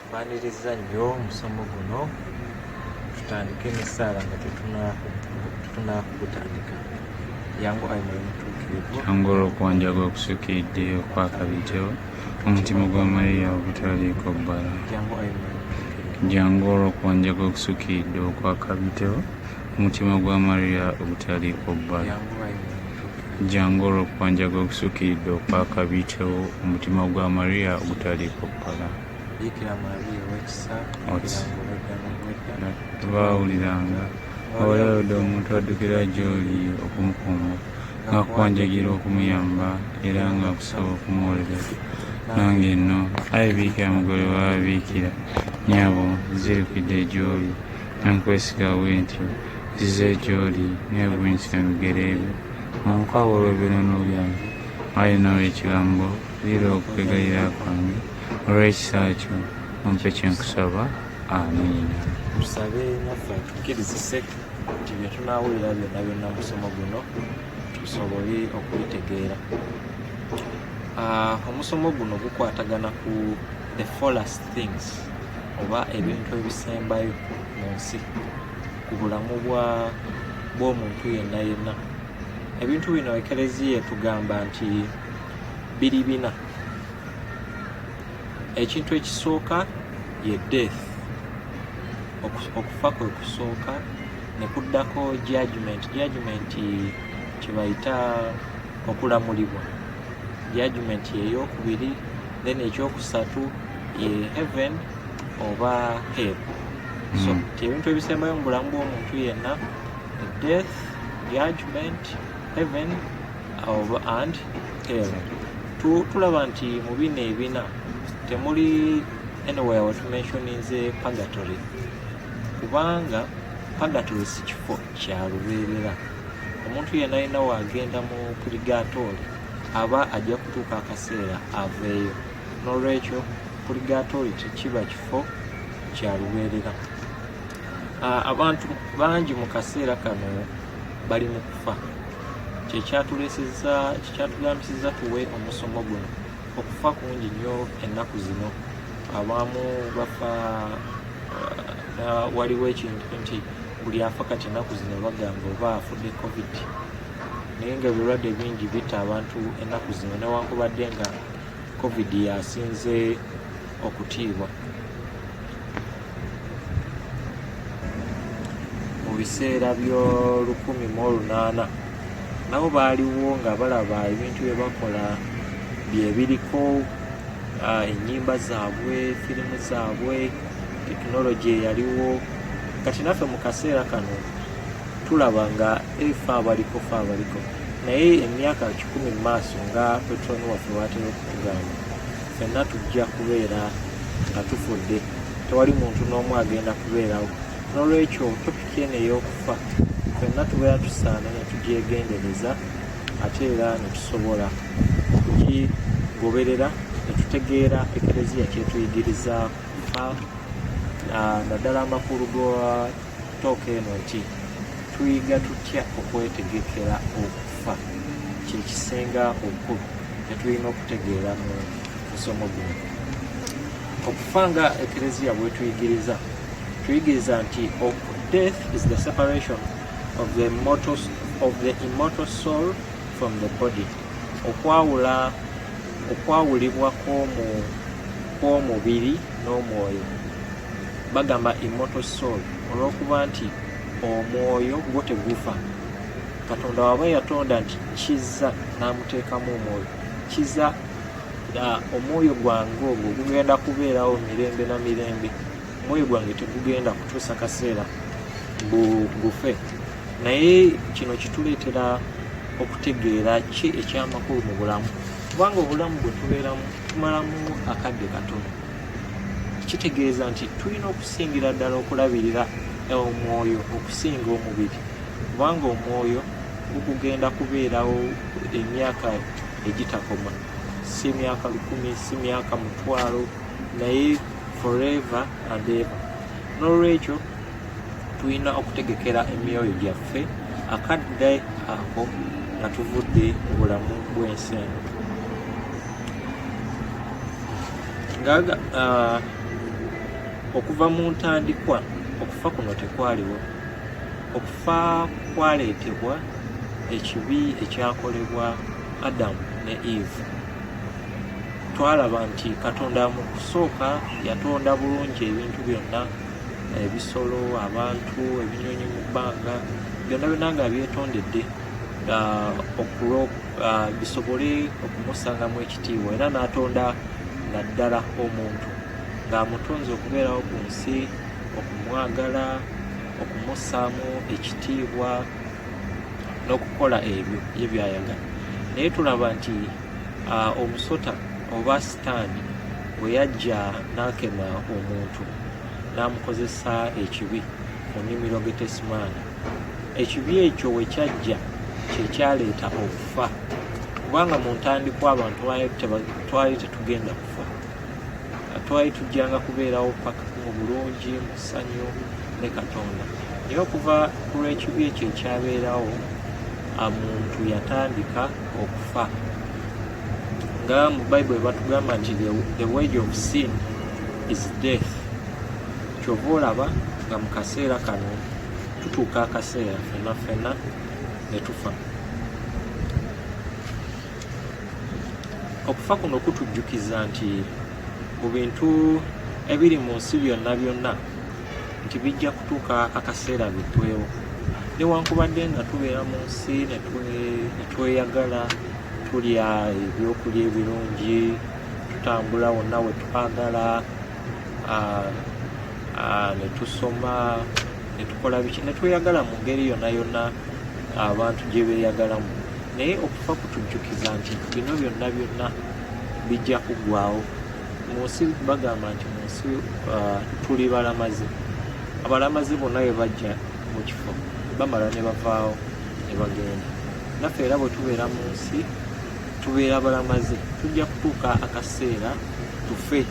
mbaniriza nnyo omusomo guno tutandike n'essaala nga tetunakugutandika yangu ayi mwoyo mutuukirivu yangu olwokuwanjaga okusukiridde okwakabitewo Omutima gwa Maria ogutaliiko bbala, jangu olwo kwanja gwe gusukiridde okwakabitewo. Omutima gwa Maria ogutaliiko bbala, jangu olwo kwanja gwe gusukiridde okwakabitewo. Omutima gwa Maria ogutaliiko bbala. Baawuliranga abalayodde omuntu addukira gy'oli okumukuuma nga kuwanjagira okumuyamba era nga kusaba okumuwolera nange enno ayi biikira mugole wababiikira nyabo nzirukidde egyoli nankwesiga bwe ntyo nzize egyoli nebwensika mubigere ebyo munkwabo olw'ebirono byange ayi nawe ekigambo lira okwegayira kwange olw'ekisa kyo ompe kyenkusaba amiina nti bye tunaawulira byonna byonna musomo guno tusobole okubitegeera ah, omusomo guno gukwatagana ku the fullest things oba ebintu ebisembayo mu nsi ku bulamu bw'omuntu yenna yenna ebintu bino ekereziya etugamba nti biri bina ekintu ekisooka ye death okufa kwe kusooka ne kuddako judgment judgment kyebayita okulamulibwa judgment yeyokubiri then ekyokusatu ye heaven oba hell so mm. ebintu ebisembayo mu bulamu bw'omuntu yenna death judgment heaven oba and emu tulaba nti mu bino ebina temuli anywhere wetumentioninze pagatory kubanga pagatory si kifo kya lubeerera omuntu yena yena wagenda mu puligatooli aba ajja kutuuka akaseera aveeyo n'olwekyo puligatooli tekiba kifo kya lubeerera abantu bangi mu kaseera kano bali mu kufa kyekyatuleseza kyekyatulambisiza tuwe omusomo guno okufa kungi nnyo ennaku zino abaamu bafa uh, waliwo ekintu nti buli afa kati ennaku zino bagamba oba afudde covid naye nga ebirwadde bingi bitta abantu ennaku zino newankubadde nga covid yasinze okutiibwa mu biseera by'olukumi mu olunaana nabo baaliwo nga balaba ebintu bye bakola bye biriko ah, ennyimba zaabwe firimu zaabwe tekinologi eyaliwo kati naffe mu kaseera kano tulaba nga efa abaliko fa abaliko naye emyaka kikumi mu maaso nga petron waffe watera okutugamba fenna tujja kubeera nga tufudde tewali muntu n'omu agenda kubeerawo n'olwekyo topiki eno ey'okufa fenna tubeera tusaana ne tugyegendereza ate era ne tusobola okugigoberera ne tutegeera ekereziya kyetuyigiriza naddala amakulu ga Tooka eno ki tuyiga tutya okwetegekera okufa kyekisinga obukulu kyetulina okutegeera mu musomo guno. Okufa nga ekereziya bwetuyigiriza tuyigiriza nti death is the separation of the immortal, of the immortal soul from the body okwawula okwawulibwa kw'omubiri n'omwoyo bagamba immortal soul olwokuba nti omwoyo gwo tegufa katonda waba yatonda nti kiza namuteekamu omwoyo kiza omwoyo gwange ogwo gugenda kubeerawo mirembe na mirembe omwoyo gwange tegugenda kutuusa kaseera gufe naye kino kituleetera okutegeera ki ekyamakulu mu bulamu kubanga obulamu bwe tubeeramu tumalamu akadde katono kitegeeza nti tulina okusingira ddala okulabirira omwoyo okusinga omubiri kubanga omwoyo gukugenda kubeerawo emyaka egitakoma si myaka lukumi si myaka mutwalo naye forever and ever n'olwekyo tulina okutegekera emyoyo gyaffe akadde ako nga tuvudde obulamu bw'ensi eno ngaga uh, okuva mu ntandikwa okufa kuno tekwaliwo okufa kwaleetebwa ekibi ekyakolebwa adamu ne eve twalaba nti katonda mu kusooka yatonda bulungi ebintu byonna ebisolo abantu ebinyonyi mu bbanga byonna byonna nga byetondedde uh, okulooka ah, bisobole okumusangamu ekitiibwa era n'atonda naddala omuntu ng'amutonze okubeerawo ku nsi okumwagala okumussaamu ekitiibwa n'okukola ebyo ye byayagala naye tulaba nti ah, omusota oba sitaani bwe yajja n'akema omuntu n'amukozesa ekibi mu nnimiro getesimaani ekibi ekyo we kyajja kye kyaleeta okufa kubanga mu ntandikwa abantu twali tetugenda kufa twali tujjanga kubeerawo paka mu bulungi mu ssanyu ne katonda naye okuva ku lw'ekibi ekyo ekyabeerawo muntu yatandika okufa nga mu bible batugamba nti the wage of sin is death kyova olaba nga mu kaseera kano tutuuka akaseera fena fena ne tufa okufa kuno kutujjukiza nti mu bintu ebiri mu nsi byonna byonna nti bijja kutuuka akaseera bitwewo newankubadde nga tubeera mu nsi netweyagala tulya ebyokulya ebirungi tutambula wonna wetwagala netusoma netukola biki netweyagala mu ngeri yona yona abantu gye beeyagalamu naye okufa kutujjukiza nti bino byonna byonna bijja kuggwawo mu nsi bagamba nti mu nsi uh, tuli balamazi abalamazi bonna bwe bajja mu kifo bamala ne bavaawo ne bagenda naffe era bwe tubeera mu nsi tubeera balamaze tujja kutuuka akaseera tufe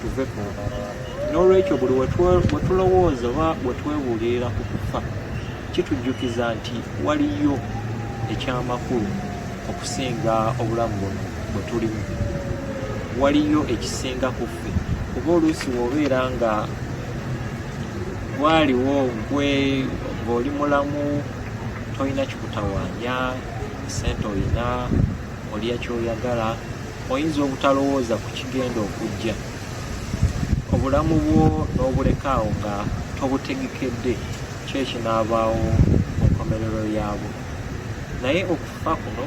tuve ku n'olwekyo buli wetulowooza oba wetwebuulirira ku kufa kitujjukiza nti waliyo ekyamakulu okusinga obulamu buno bwe tulimu waliyo ekisinga ku ffe kuba oluusi wobeera nga gwaliwo gwe ng'oli mulamu tolina kikutawaanya sente olina olya kyoyagala oyinza obutalowooza ku kigenda okujja obulamu bwo n'obulekaawo nga tobutegekedde kyo ekinaabaawo mu nkomerero yaabwo naye okufa kuno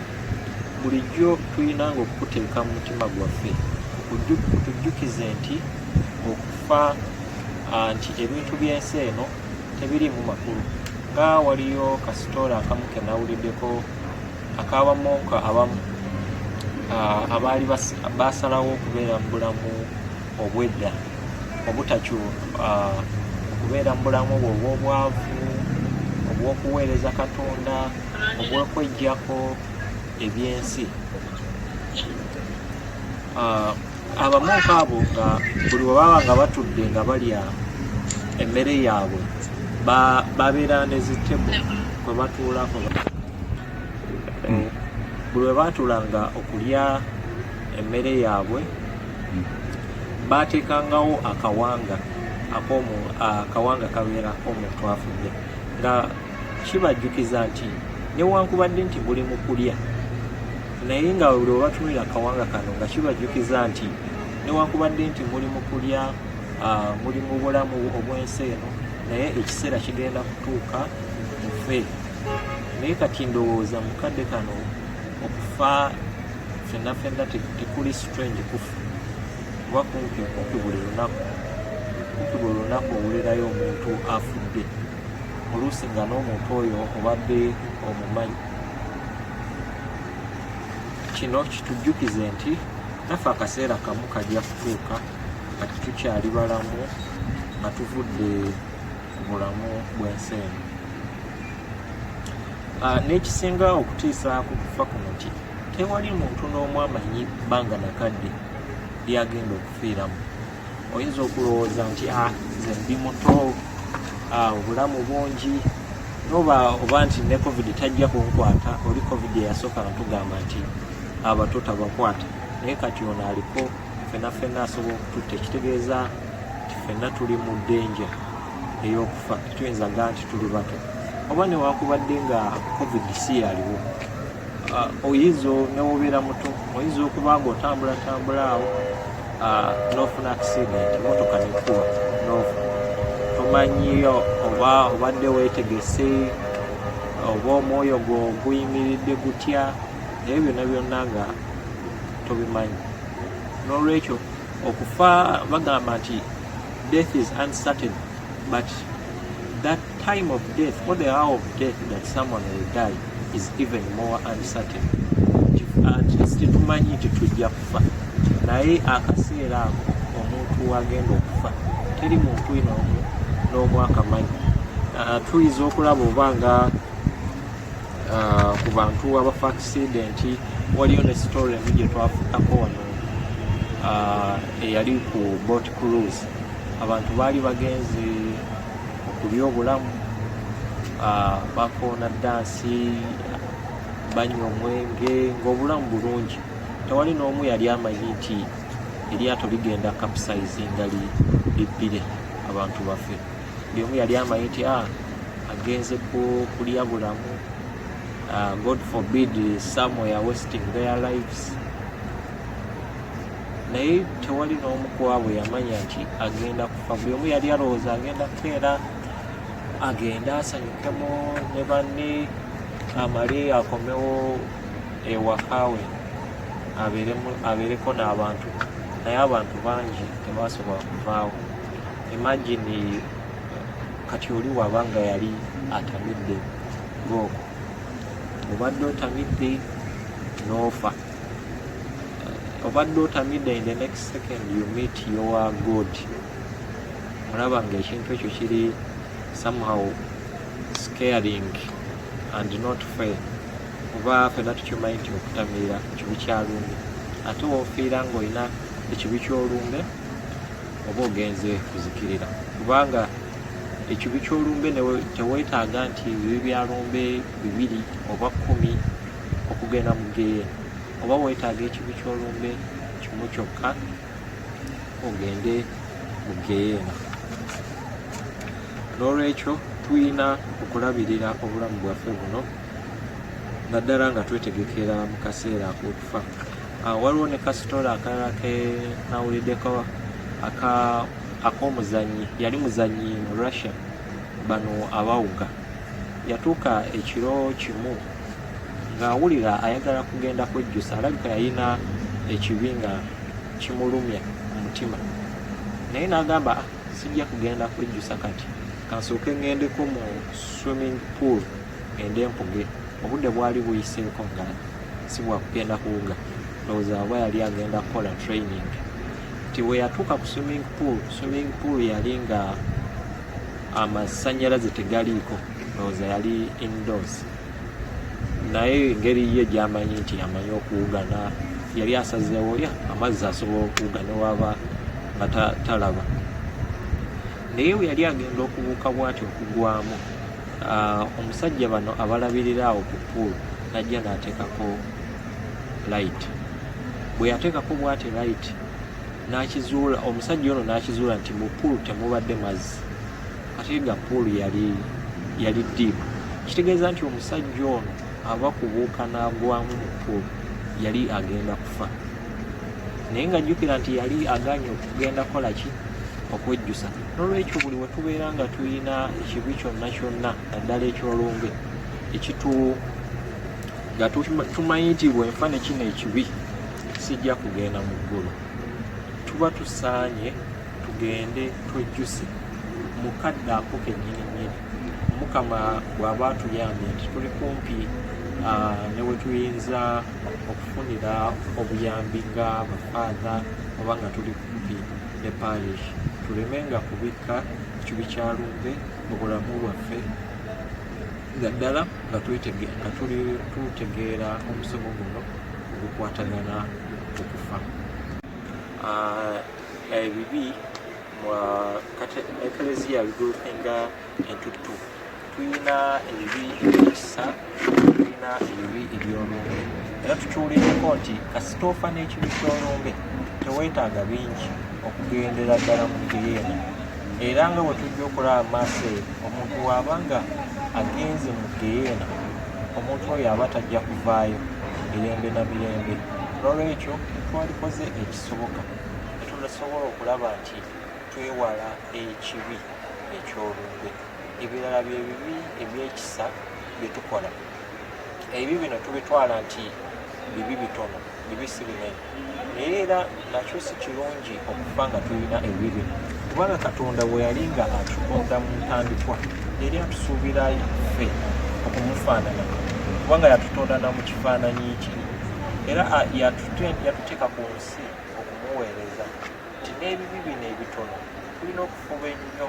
bulijjo tulina nga okukuteeka mu mutima gwaffe kutujjukize nti okufa nti ebintu by'ensi eno tebiriimu makulu nga waliyo kasitoola akamu ke nawuliddeko akabamuka abamu abaali baasalawo okubeera mu bulamu obwedda obutakyu okubeera mu bulamu obwo obw'obwavu obw'okuweereza katonda obw'okwejjako ebyensi abamonka abo nga buli webaba nga batudde nga balya emmere yaabwe babeera nezitebo kwe batuulako hmm. buli webatuulanga okulya emmere yaabwe hmm. bateekangawo akawanga akawanga kabeera omuntu afudde nga kibajjukiza nti newankubadde nti buli mu kulya naye nga buli obatunulira akawanga kano nga kibajjukiza nti newankubadde nti muli mu kulya ah, muli mu bulamu obw'ensi eno naye ekiseera kigenda kutuuka mufe naye kati ndowooza mukadde kano okufa fenna fenna tekuli strange kufa kuba kumpi kumpi buli lunaku kumpi buli lunaku owulirayo omuntu afudde oluusi nga n'omuntu oyo obadde omumanyi kino kitujjukize nti naffe akaseera kamu kajja kutuuka nga tetukyali balamu nga tuvudde ku bulamu bw'ensi eno ah, n'ekisinga okutiisa ku kufa kuno ki tewali muntu n'omu amanyi bbanga nakadde lyagenda okufiiramu oyinza okulowooza nti a ah, nze ndi muto ah, obulamu bungi noba oba nti ne covid tajja kunkwata oli covid eyasooka natugamba nti abato tabakwata naye kati ono aliko fena fena asobola okututta ekitegeeza nti fena tuli mu denja ey'okufa tuyinza ga nti tuli bato oba newakubadde nga covid si yaliwo ah, oyinza newobeera muto oyinza okuba nga otambulatambula awo Ah, n'ofuna accident emotoka nekuba nofa tomanyiyo oba obadde wetegese oba omwoyo gwo guyimiridde gutya naye byonna byonna nga tobimanyi n'olwekyo okufa bagamba nti death is uncertain but that Time of death or the hour of death that someone will die is even more uncertain. Tetumanyi nti tujja kufa naye akaseera ako omuntu wagenda okufa teri muntu ino n'omu akamanyi ah, tuyinza okulaba oba nga ah, ku bantu abafa akisidenti waliyo ne story emu gye twafutako wano ah, eyali ku bot cruise abantu baali bagenze ku byobulamu ah, bakoona dansi banywa omwenge ng'obulamu bulungi tewali n'omu yali amanyi nti eryato ligenda capsize nga libbire abantu baffe buli omu yali amanyi nti ah, agenze kulya bulamu ah, god forbid somewhere wasting their lives naye tewali n'omu kwabwe yamanya nti agenda kufa buli omu yali alowooza agenda kukeera agende asanyukemu ne banne amale akomewo ewakawe abeereko n'abantu naye abantu bangi tebasobola kuvaawo imagine kati oli waba nga yali atamidde gooko obadde otamidde n'ofa obadde otamidde in the next second you meet your god olaba nga ekintu ekyo kiri somehow scaring and not fair oba fena tukimanyi nti okutamirira kibi kyalumbe ate wofiira ngaolina ekibi kyolumbe oba ogenze kuzikirira kubanga ekibi kyolumbe tewetaaga nti bibi byalumbe bibiri oba kumi okugenda mu geyeena oba weetaaga ekibi ky'olumbe kimu kyokka ogende mu geyeena n'olwekyo tulina okulabirira obulamu bwaffe buno naddala nga twetegekera mu kaseera ak'okufa ah, waliwo ne kasitoola akalala ke nawuliddeko ak'omuzannyi yali muzannyi mu russia bano abawuga yatuuka ekiro kimu ng'awulira ayagala kugenda kwejjusa alabika yalina ekibi nga kimulumya omutima naye n'agamba ah, sijja kugenda kwejjusa kati kansooke ŋŋendeko mu swimming pool ende mpuge obudde bwali buyiseeko nga si bwakugenda kuwuga ndowooza aba yali agenda kukola training nti we yatuuka ku swimming pool swimming pool yali nga amasanyalaze tegaliiko ndowooza yali indoors naye engeri ye gyamanyi nti amanyi okuwugana yali asazeewo ya amazzi asobola okuwuga newaba nga talaba naye we yali agenda okubuuka bwati okugwamu ah, omusajja bano abalabirira awo ku pool najja nateekako light bwe yateekako bwati light n'akizuula omusajja ono n'akizuula nti mu puulu temubadde mazzi ate nga puulu yali yali diipu kitegeeza nti omusajja ono aba kubuuka n'agwamu mu puulu yali agenda kufa naye nga jjukira nti yali aganye okugenda kukola ki okwejjusa n'olwekyo buli we tubeera nga tulina ekibi kyonna kyonna naddala ekyolumbe ekitu nga tumanyi nti bwenfa ne kino ekibi sijja kugenda mu ggulu tuba tusaanye tugende twejjuse mu kadde ako kennyini nnyini mukama bw'aba atuyambye nti tuli kumpi ah, ne we tuyinza okufunira obuyambi nga bafaatha oba nga tuli kumpi ne parish tuleme nga kubikka kibi kya lumbe mu bulamu bwaffe naddala nga tutegeera omusomo guno ogukwatagana ku kufa ah, ebibi ekleziya bigulukenga entuttu tulina ebibi ebyekisa tulina ebibi ebyolumbe era tukiwuliddeko nti kasita ofa n'ekibi kyolumbe teweetaaga bingi okugendera ddala mu geyeena era nga bwe tujja okulaba maaso eyo omuntu waaba nga agenze mu geyeena omuntu oyo aba tajja kuvaayo mirembe na mirembe nolwekyo twalikoze ekisoboka netunasobola okulaba nti twewala ekibi ekyolumbe ebirala byebibi ebyekisa byetukola ebibi bino tubitwala nti bibi bitono bibi si binene naye era nakyo si kirungi okufa nga tulina ebibi kubanga katonda bwe yali nga atutonda mu ntandikwa yali atusuubira ffe okumufaanana kubanga yatutonda na mu kifaananyi kye era yatuteeka ku nsi okumuweereza nti n'ebibi bino ebitono tulina okufuba ennyo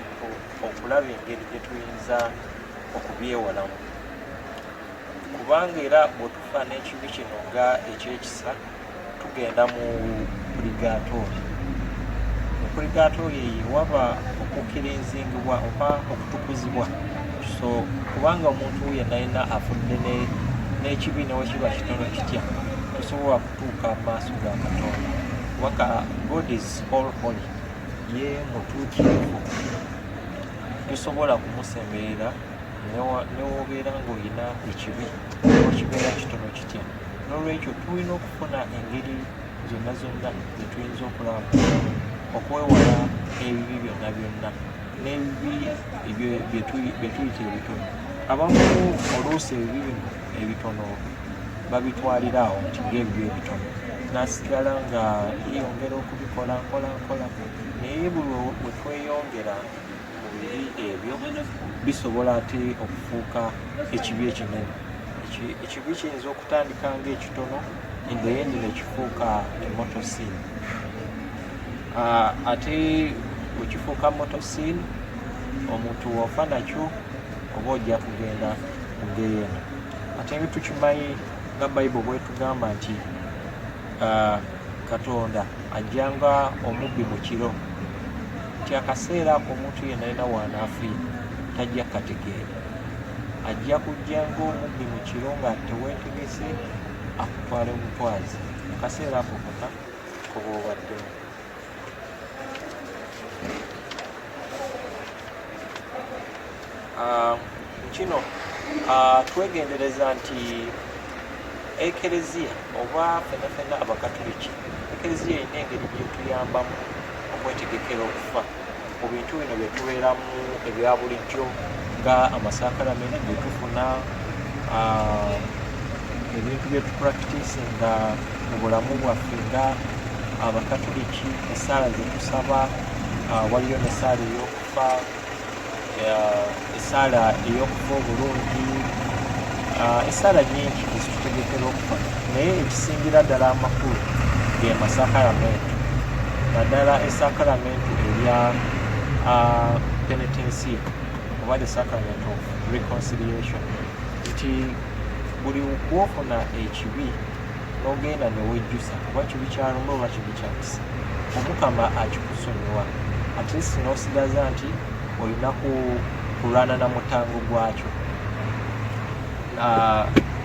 okulaba engeri gye tuyinza okubyewalamu kubanga era bwetufa n'ekibi kino nga ekyekisa tugenda mu purigatori mu purigatori eyo waba okukirinzingibwa oba okutukuzibwa so kubanga omuntu yenna yenna afudde n'ekibi newekiba kitono kitya tosobola kutuuka mu maaso ga katonda kubanga god is all holy ye mutuukirivu tosobola kumusemberera newobeera ng'olina ekibi okibeera kitono kitya n'olwekyo tulina okufuna engeri zonna zonna zetuyinza okulaba okwewala ebibi byonna byonna n'ebibi byetuyita ebitono abamu oluusi ebibi bino ebitono babitwalira awo nti ngaebibi ebitono nasigala nga yeyongera okubikola nkola nkola naye buli wetweyongera ebyo bisobola ate okufuuka ekibi ekinene ekibi kiyinza okutandika nga ekitono endeyendi nekifuuka emotosin ah, ate wekifuuka motosin omuntu wofa nakyo oba ojja kugenda mugeyena ate ebitukimanyi nga bible bwetugamba nti Ah, katonda ajja nga omubbi mu kiro nti akaseera ako omuntu yenna yena waanaafiira tajja kategeera ajja kujja ngaomubbi mu kiro nga teweetegese akutwale mutwazi akaseera ako kaka koba obaddemu Ah, kino ah, twegendereza nti ekereziya oba fenafena abakatuliki ekereziya erina engeri gyetuyambamu okwetegekera okufa Mu bintu bino bye tubeeramu ebya bulijjo nga amasaakalamenti ge tufuna ah, ebintu bye tupractice nga mu bulamu bwaffe nga abakatuliki essaala ze tusaba ah, waliyo n'essaala ey'okufa esaala ey'okufa obulungi ah, esaala nyingi ezitutegekera okufa naye ekisingira ddala amakulu ge masakalamentu naddala esakalamentu erya ah, penetensia oba the sacrament of reconciliation nti buli kwofuna ekibi nogenda newejjusa kuba kibi kyalumba oba kibi kyakisa omukama akikusonyiwa atleast nosigaza nti olina kulwana na mutango gwakyo ah,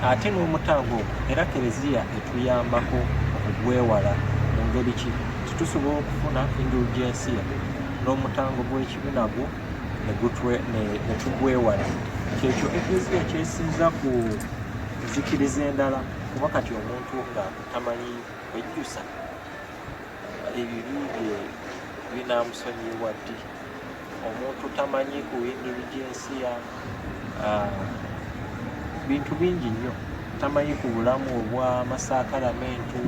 ate n'omutango ogwo era kereziya etuyambako okugwewala mu ngeri ki titusobola okufuna indulgensiya n'omutango gw'ekibi nagwo netugwewala kyekyo ekereziya kyesinza ku nzikiriza endala kuba kati omuntu nga tamanyi kwejjusa ebibi bye binamusonyiwa ddi omuntu tamanyi kuwingiri jinsiya ah, bintu bingi nnyo tamanyi ku bulamu obwa masaakalamentu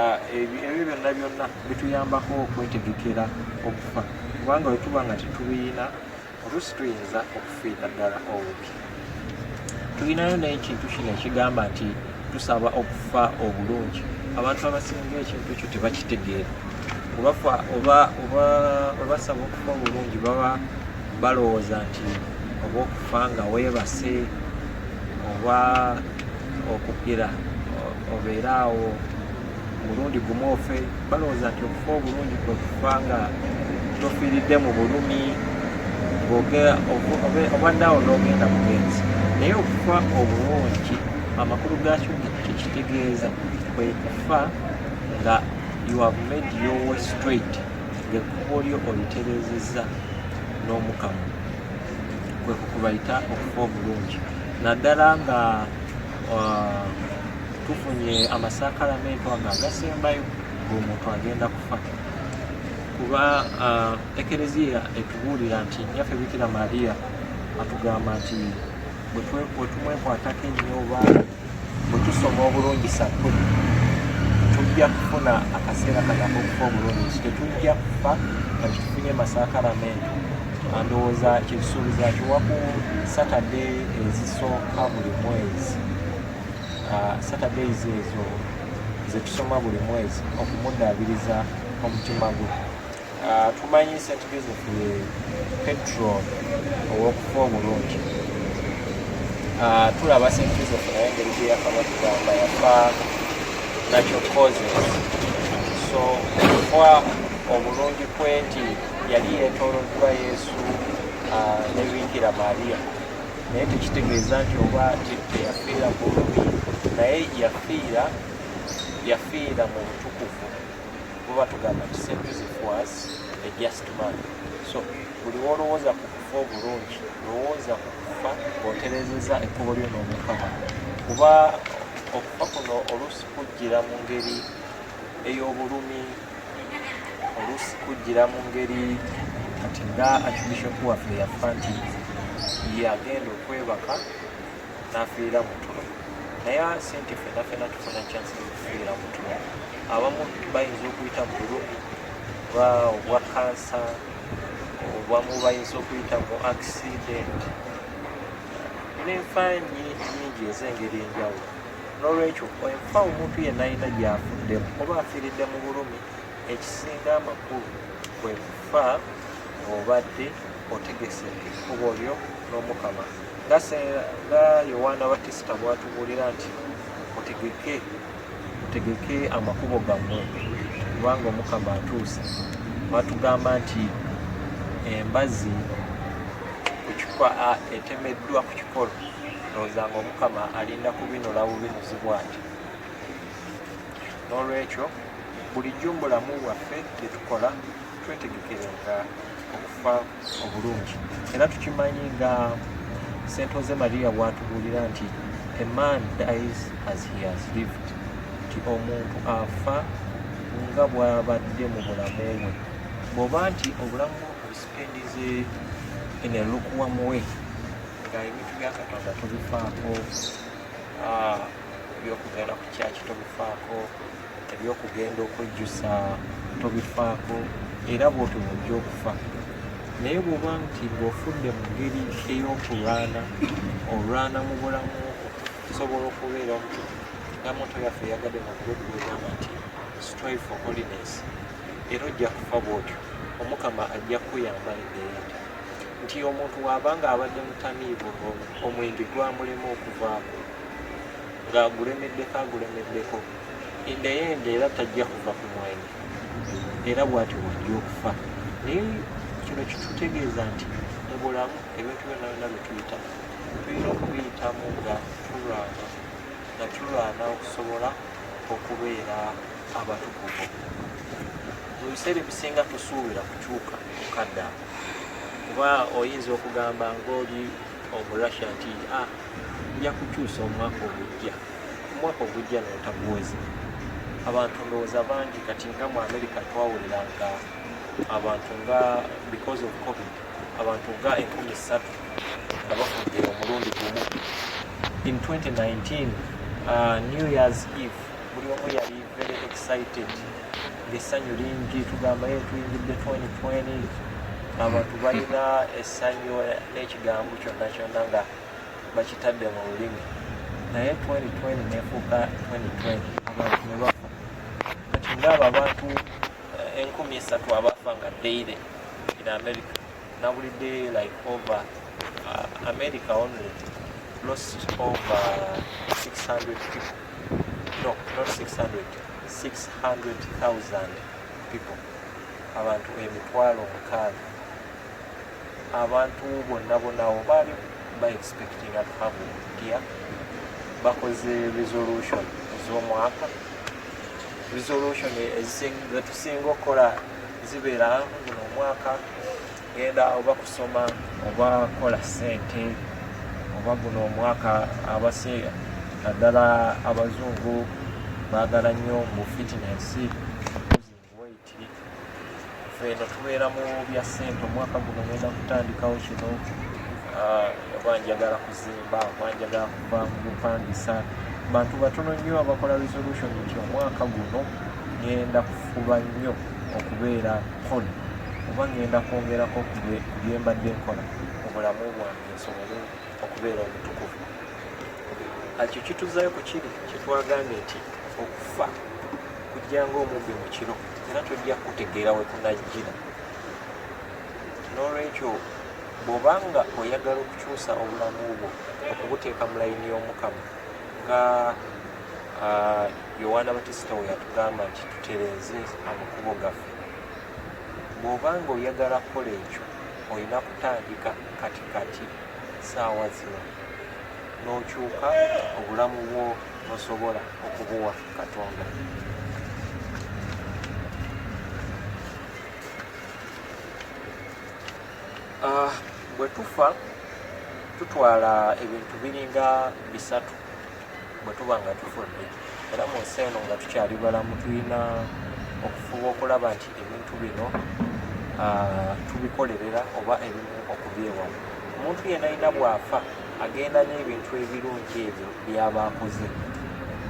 ah, ebyo byonna byonna bituyambako okwetegekera okufa kubanga wetuba nga tetubiyina oluusi tuyinza okufiira ddala obubi tulinayo naye ekintu kino ekigamba nti tusaba okufa obulungi abantu abasinga ekintu ekyo tebakitegeera obafa oba oba obasaba okufa obulungi baba balowooza nti oba okufa nga weebase oba okugira obeere awo omulundi gumu ofe balowooza nti okufa obulungi kwe kufa nga tofiiridde mu bulumi obadde awo n'ogenda mugenzi naye okufa obulungi amakulu gakyo kyekitegeeza kwe kufa nga you have made your way straight ng'ekkubo lyo olitereezezza n'omukamu kwe kukubayita okufa obulungi naddala nga tufunye amasakalamentu ago agasembayo ngaomuntu agenda kufa kuba ekereziya etubuulira nti nyaffe bikira maria atugamba nti bwetumwekwatako ennyo oba bwetusoma obulungi sakkuli tujja kufuna akaseera kanako okufa obulungi nti tetujja kufa nga kitufunye masakalamentu ndowooza kyekisuubiza kiwaku satade ezisooka buli mwezi ah, saturdays ezo zetusoma buli mwezi okumudaabiriza omutima gwe ah, tumanyi st joseph ye petrol owokufa obulungi ah, tulaba st joseph naye engeri gyeyafa batugamba yafa natural causes so okufa obulungi kwe nti yali yetoloddwa yesu nebikira maria naye tekitegeeza nti oba teyafiira ku lubbi naye yafiira yafiira mu butukuvu buba tugamba nti st joseph was a just man so buli wolowooza ku kufa obulungi lowooza ku kufa oterezeza ekkubo lyo n'omukama kuba okufa kuno oluusi kujjira mu ngeri ey'obulumi oluusi kujjira mu ngeri kati nga archbishop waffe yafa nti ye agenda okwebaka n'afiirira mu tulo naye si nti fena fena tufuna chansi okufiirira mu tulo abamu bayinza okuyita mu bulumi oba obwa kansa obamu bayinza okuyita mu accident n'enfa nyingi ez'engeri enjawulo N'olwekyo enfa omuntu yenna alina gy'afuddemu oba afiiridde mu bulumi, ekisinga amakulu kwe kufa ng'obadde otegese ekkubo lyo n'Omukama. Nga Yowaana Batista bw'atubuulira nti mutegeke mutegeke amakubo gammwe kubanga Omukama atuuse. Batugamba nti embazi etemeddwa ku kikolo ndowooza nga omukama alinda kubinula bubinuzi bwange n'olwekyo bulijjo mu bulamu bwaffe byetukola twetegekerenga okufa obulungi era tukimanyi nga sentoze maria bwatubuulira nti a man dies as he has lived nti omuntu afa nga bwabadde mu bulamu bwe bwoba nti obulamu obusipendinze in a lukuwamuwe nga ebintu bya katonda tubifaako ah, ebyokugenda ku kyaki tubifaako ebyokugenda okwejjusa tubifaako era bwotyo bwojja okufa naye bwoba nti ng'ofudde mu ngeri ey'okulwana olwana mu bulamu okusobola okubeera nti namuntu yaffe yagadde nakubetugeegamba nti strive for holiness era ojja kufa bwotyo omukama ajja kukuyamba embeera nti omuntu waba nga abadde mutamiivu omwenge gwamulema okuvaako ng'agulemeddeko agulemeddeko endeyende era tajja kuva ku mwenge era bwati wajja okufa naye kino kitutegeeza nti mu bulamu ebintu byonna byonna byetuyita tulina okubiyitamu nga tulwana nga tulwana okusobola okubeera abatukuvu mu biseera ebisinga tusuubira kukyuka kukaddaa kuba oyinza okugamba ngaoli omurussia nti ah, nja kukyusa omwaka ogujja omwaka ogujja notaguweza abantu ndowooza bangi kati nga mu america twawulira nga abantu nga because of covid abantu nga enkumi ssatu nga bafudde omulundi gumu in 2019 uh, new years eve buli omu yali very excited essanyu lingi tugamba ye tuyingidde 2020 abantu balina essanyu n'ekigambo kyonna kyonna nga bakitadde mu lulimi naye 2020 nefuuka 2020 abantu ne bafa kati ngaabo abantu eh, enkumi esatu abafa nga daily in america nabulidde like over uh, america only lost over 600 people no not 600 600000 people abantu emitwalo mukaaga abantu bonna bonawo baali ba expecting at have dia bakoze resolution z'omwaka resolution ezisinga okukola zibeera guno omwaka genda oba kusoma oba kola sente oba guno omwaka abase naddala abazungu baagala nnyo mu fitness waiti feeno tubeera mu bya sente omwaka guno genda kutandikawo kino ah, oba njagala okuzimba amanja ga kuva mu bupangisa bantu batono nnyo abakola resolution nti omwaka guno ngenda kufuba nnyo okubeera kole oba ngenda kwongerako ku byembadde nkola mu bulamu bwange nsobole okubeera omutukuvu ekyo kituzayo ku kiri kyetwagambye nti okufa kujjanga omubbi mu kiro era tojja kutegeera we kunajjira n'olwekyo bw'oba nga oyagala okukyusa obulamu bwo okubuteeka mu layini y'omukama nga yowaana batisita we yatugamba nti tutereeze amakubo gaffe bw'oba nga oyagala kukola ekyo olina kutandika kati kati saawa zino n'okyuka obulamu bwo nosobola okubuwa katonda Ah, bwe tufa tutwala ebintu biringa bisatu bwe tuba nga tufudde era mu nsi eno nga tukyali balamu tulina okufuba okulaba nti ebintu bino ah, tubikolerera oba ebimu okubyewamu omuntu yenayina bw'afa agenda n'ebintu ebirungi ebyo byaba akoze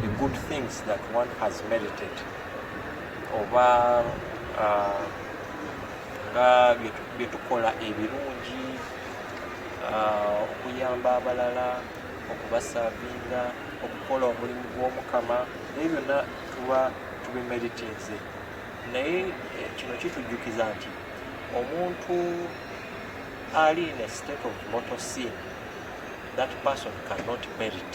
the good things that one has meditated oba uh, nga byetukola ebirungi uh, okuyamba abalala okubasavinga okukola omulimu gw'omukama naye byonna tuba tubimeditinze naye eh, kino kitujjukiza nti omuntu ali in a state of motor sin that person cannot merit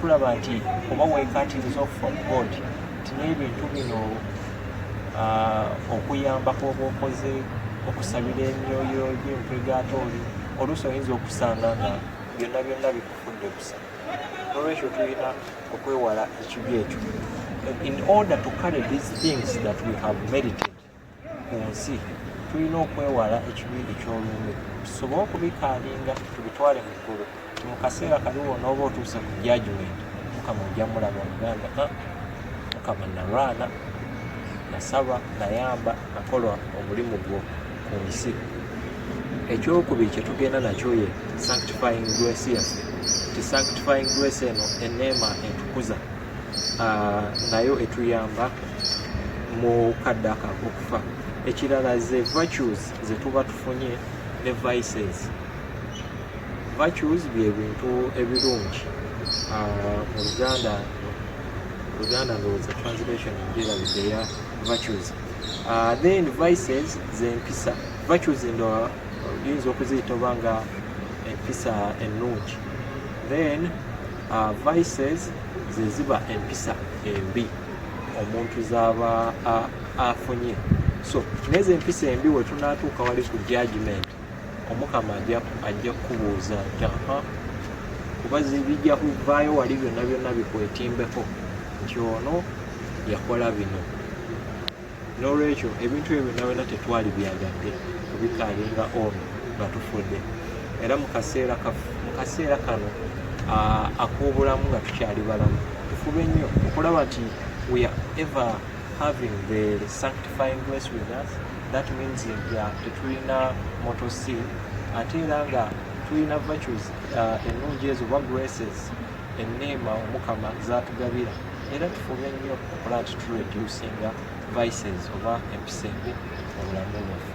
tulaba nti oba wekatiriza of god nti n'ebintu bino ah, okuyambako oba okoze okusabira emyoyo gy'empwegaate oli oluusi oyinza okusanga nga byonna byonna bikufudde busa nolwekyo tulina okwewala ekibi ekyo in order to carry these things that we have meditated ku nsi tulina okwewala ekibindi ky'olumbe tusobole okubikaalinga tubitwale mu ggulu mu kaseera kali wona oba otuuse ku jajumenti mukama ojja mulaba omuganda ah, mukama nalwana nasaba nayamba nakola omulimu gwo ku nsi ekyokubiri kyetugenda nakyo ye sanctifying grace yaffe ti sanctifying grace eno eneema etukuza nayo etuyamba mu kadde akakukufa ekirala ze virtues zetuba tufunye ne vices virtues bye bintu ebirungi ah, mu luganda luganda ndowooza translation enjerabidde ya virtues ah, then vices zempisa virtues ndo oyinza okuziyita oba nga empisa ennungi then Uh, vices ze ziba empisa embi omuntu zaba afunye so nezo empisa embi wetunatuuka wali ku judgment omukama ajja kukubuuza nti aha kuba zibijja kuvaayo wali byonna byonna bikwetimbeko nti ono yakola bino n'olwekyo ebintu ebyo byonna byonna tetwali byagadde kubikaalinga ono nga tufudde era mu kaseera kano akuubulamu nga tukyali balamu tufube nnyo okulaba nti we are ever having the sanctifying grace with us that means nga tetulina moto sin ate era nga tulina virtues ennungi ezo oba graces enneema omukama zaatugabira era tufube nnyo okulaba nti tureducinga vices oba empisa embi mu bulamu bwaffe